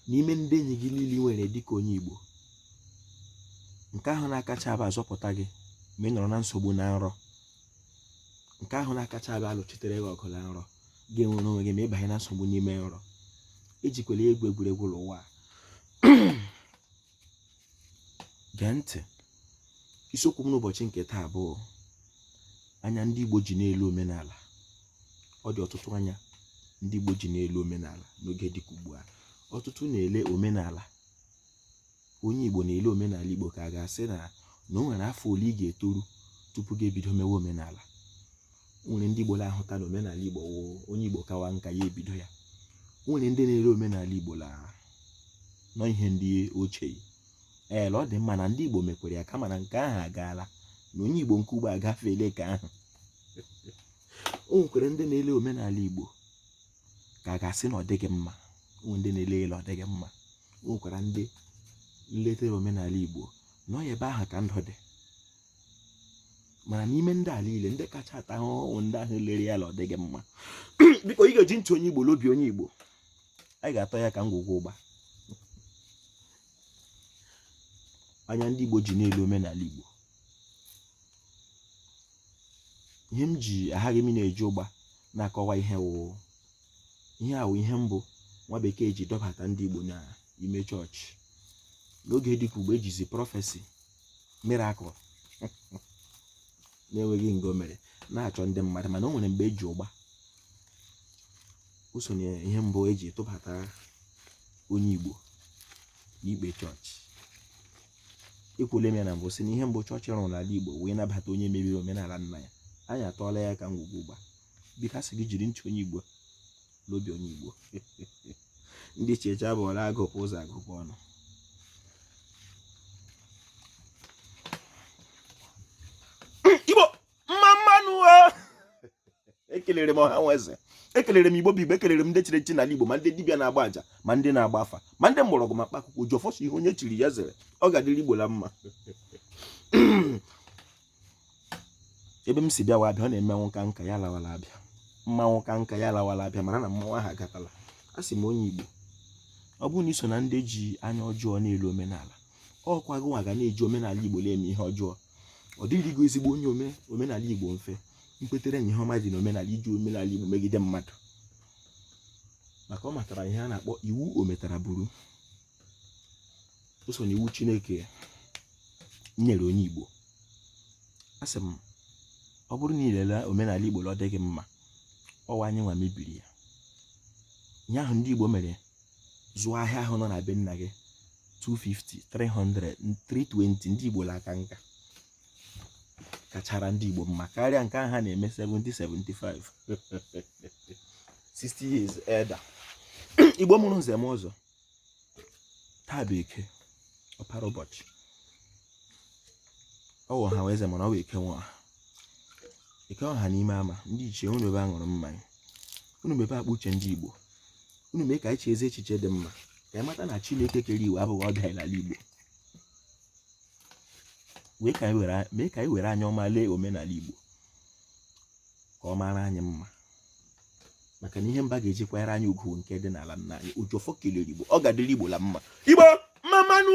n'ime ndị enyi gị niile nwere dịka onye Igbo nke ahụ na-akacha abịa azọpụta gị ma ị nọrọ na nsogbu na nrọ nke ahụ na-akacha abịa alụchitere gị ọgụ na nrọ gị enwere onwe gị ma ịbanye na nsogbu n'ime nrọ ejikwala ya egwu egwuregwu ụwa gee ntị isiokwu m n'ụbọchị nke taa bụ anya ndị Igbo ji na-ele omenala ọ dị ọtụtụ anya ndị Igbo ji na-ele omenala n'oge dịka ugbu a ọtụtụ na-ele omenala onye Igbo na-ele omenala Igbo ka a ga-asị na na o nwere afọ ole ị ga-etoru tupu gị ebido mewe omenala nwere ndị Igbo na-ahụta na omenala Igbo onye Igbo kawa nka ya ebido ya nwere ndị na-ele omenala Igbo na ọ ihe ndị ochie ee ọ dị mma na ndị Igbo mekwere ya kama na nke ahụ agaala na onye Igbo nke ugbu a agafeela nke ahụ o nwekwara ndị na-ele omenala Igbo ka a ga-asị na ọ dịghị mma o nwere ndị na-ele ele ọ dịghị mma o nwekwara ndị letere omenala Igbo na ọ ebe ahụ ka ndụ dị mana n'ime ndị a niile ndị kacha ata ahụhụ ndị ahụ lere ya na ọ dịghị mma biko ị ga-eji ntị onye igbo l'obi onye igbo anyị ga-atọ ya ka ngwugwu ụgba anya ndị igbo ji na-ele omenala igbo ihe m ji aghaghị m na-eji ụgba na-akọwa ihe wụ ihe a wụ ihe mbụ nwa bekee ji dọbata ndị igbo n'ime chọọchị n'oge dịka ugbu a ejizi prophecy miracle na-enweghị nke o mere na-achọ ndị mmadụ mana o nwere mgbe eji ụgba o so n'ihe mbụ eji tụbata onye Igbo n'ikpe chọọchị ekwule m ya na mbụ sị na ihe mbụ chọọchị rụrụ n'ala Igbo wee nabata onye mebiri omenala nna ya anyị atọọla ya ka ngwugwu ụgba biko a sị gị jiri ntị onye Igbo n'obi onye Igbo ndị ichie chi abọọla agụpụ ụzọ agụpụ ọnụ igbo mma mma nụ ekelere m ọha nwe eze ekelere m igbo bụ igbo ekelere m ndị chiri echi n'ala igbo ma ndị dibịa na-agba aja ma ndị na-agba afa ma ndị mgbọrọgwụ ma mkpa akwụkwọ ji ọfọ asụ ihe onye chiri ya zere ọ ga-adịrị igbo la mma ebe m si bịawa abịa ọ na mmanwụ kaa nka ya lawara abịa mmanwụ kaa nka ya lawara abịa mara na mmanwụ ahụ agatala a sị m onye Igbo ọ bụrụ na i so na ndị ji anya ọjọọ na-ele omenala ọ kwa gị nwa ga na-eji omenala Igbo na-eme ihe ọjọọ ọ dịrịghị ezigbo onye ome omenala Igbo mfe kwetere na ihe ọma dị na omenala iji omenala Igbo megide mmadụ maka ọ matara ihe a na-akpọ iwu ometara buru o so n'iwu chineke nyere onye igbo asị m ọ bụrụ na i lele omenala igbo ọ dịghị mma ọ wụ anyị nwa mebiri ya ihe ahụ ndị igbo mere zụọ ahịa ahụ nọ na be nna gị 250 300 320 ndị igbo la-aka nka kachara ndị igbo mma karịa nke ahụ ha na-eme 70 75 60 years elder igbo mụrụ nze m ụzọ taa bụ eke ọpara ụbọchị ọ wụ ọha nwe eze mana ọ wụ eke nwe ọha eke nwe ọha n'ime ama ndị ichie unu ebe a ṅụrụ mmanya unu mebe akpa uche ndị igbo unu mee ka anyị chee ezi echiche dị mma ka anyị mata na chineke kere iwu abụghị ọbịa anyị n'ala igbo mee ka anyị were a- mee ka anyị were anya ọma lee omenala igbo ka ọ mara anyị mma maka na ihe mba ga-eji kwanyere anyị ugwu nke dị n'ala nna anyị oji ọfọ kelere igbo ọ ga-adịrị igbo la mma igbo mma mma nụ